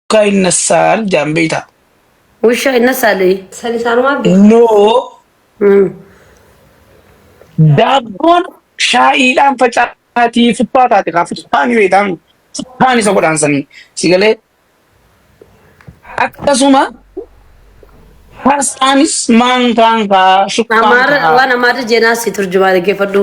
Akka inna saal jaan beeyta. Wusha inna saali. San isaanuma abdi. No daabboon shaa'iidhaan facaatii futtaa taate kaa futtaan yoo ta'an futtaan isa godhaan sanii si galee akkasuma farsaanis maankaan kaa shukkaan Amaara kaa waan amaarri jeenaa si turjumaa dhaggeeffadhu.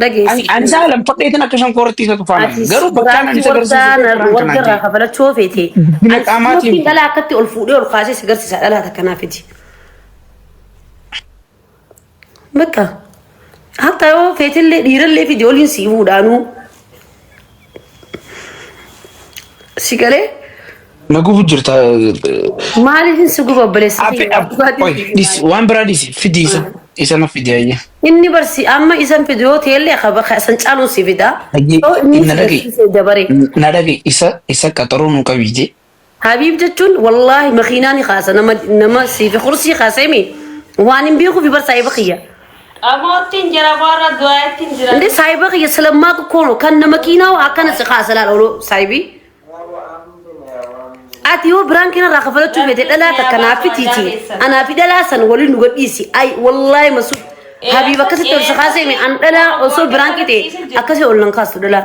Dhageessi. Ani isaa lam fadheetiin akka shan koorratti isa tufaanan. Ati Garuu bakkaan ani isa garsiisu warra kanaan warra irraa ta'e. kafalachuu feete. Guddina Ati qaamaatiin. ispoortiin dhalaa akkatti ol fuudhee ol kaasee si garsiisa dhalaa takka naaf fidi. Bakka. Hatta yoo feetillee dhiirallee fidi oliin si fuudhaanuu. Si galee Na gubu jirta. maaliif hin si guba obboleessa Afe kiyya? ab Dhugaatiin oi si guba. dhis waan biraa dhisi fidi isa isa na fidi ayya. Inni barsi amma isan fidu yoo ta'ellee qaba kan caaluun si fida. Dhagee Yoo inni na si dhagee. barsiise dabaree. Na dhagee isa isa qaxaroo nu qabi jee. Habiib jechuun wallaahi makiinaa ni kaasa nama nama siifi kursii kaaseemi waan hin beekuufi bar saahiba kiyya. Qamoottiin jira boorra du'aayittiin jira. Inde saahiba kiyya silammaa qoqqoono kan nama kiinaa akkana si kaasa laal oloo saahibii. Ati yoo biraan keenya irraa kafalachuu feete dhalaa takka naaf fitiiti. Anaa fi dhalaa san waliin nu gadhiisi. Ay wallaahi masuud. Habiib akkasitti ol si kaaseemi an dhalaa osoo biraan qixee akkasii ol nan kaastu dhalaa.